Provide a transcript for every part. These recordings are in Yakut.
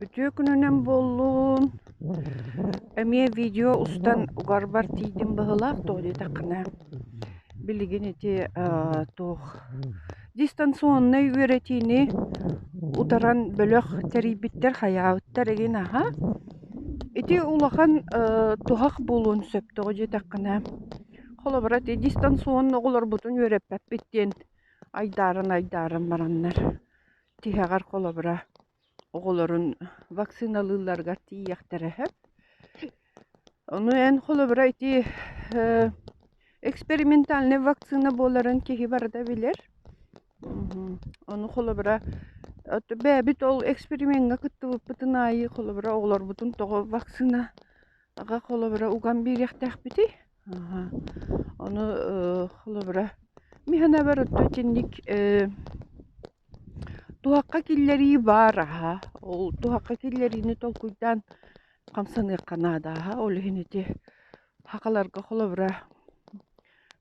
Үтүө күнүнэн буоллун. Эмиэ видео устан угарбар тиийдим быһыылаах дуо диэтэххинэ, билигин ити аа туох дистанционнай үөрэтиини утаран бөлөх тэрийбиттэр, хайаабыттар игин аһа. Ити улахан ээ туһах буолуон сөп тоҕо диэтэххинэ, холобура ити дистанционно оҕолорбутун үөрэппэппит диэн айдааран-айдааран бараннар. Тиһэҕэр холобура, оҕолорун вакциналыылларыгар тиийиэхтэрэ сөп. Ону эн холобура ити э, экспериментальная вакцина буоларын киһи барыта билэр. Мгм. Ону холобура от бэйэбит ол эксперимеҥҥэ кыттыбыппытын аайы холобура оҕолорбутун тоҕо вакцинаҕа холобура уган биэриэхтээхпитий? Аһа. Ону, ы, холобура, ми һынабар отто итинник, э, туһахха киллэрии баар аһа. Ол туһахха киллэриини толкуйдаан хамсаныахха наада аһа. Ол иһин ити хахаларга холобура,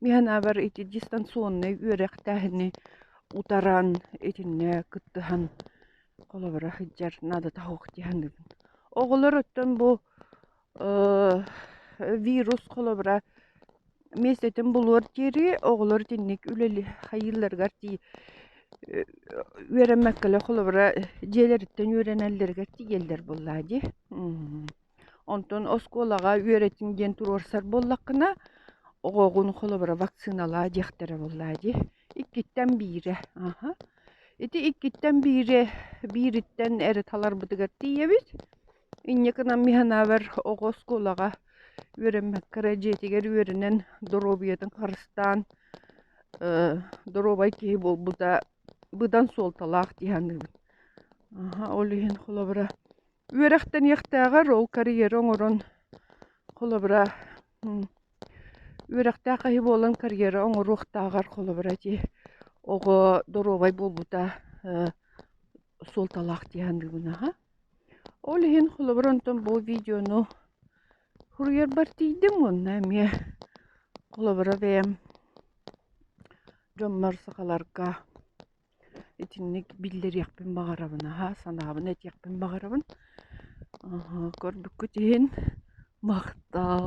ми һынабар ити дистанционнай үөрэхтээһини утаран, итиннэ кыттыһан, холобура, сылдьар наадата суох дии саныыбын. Оҕолор оттон бу вирус холобура мессетин булуор диэри оҕолор итинник үлэлиһайыыларыгар тии үөрэммэккэлэ холобура дьиэлэриттэн үөрэнэллэригэр тиийэллэр буоллаа дии онтон оскуолаҕа үөрэтиҥ диэн туруорсар буоллаххына оҕоҕун холобура вакциналаа диэхтэрэ буоллаа дии иккиттэн биирэ аха ити иккиттэн биири биириттэн эрэ таларбытыгар тиийэбит Инньэкэнэн миһэнээбэр оҕо оскуолаҕа үөрэммэккэ эрэ дьиэтигэр үөрэнэн доруобуйатын харыстаан доруобай киһи буолбута быдан суолталаах дии саныыбын. Ол иһин холобура үөрэхтэниэхтээҕэр ол карьера оҥорон холобура үөрэхтээх киһи буолан карьера оҥоруохтааҕар холобура ити оҕо доруобай буолбута суолталаах дии саныыбын. Ол иһин холобур онтон бу видеону суруйарбар тиийдим уонна эмиэ холобура бэйэм дьоммор сахаларга итинник биллэриэхпин баҕарабын аһа санаабын этиэхпин баҕарабын көрбүккүт иһин махтаал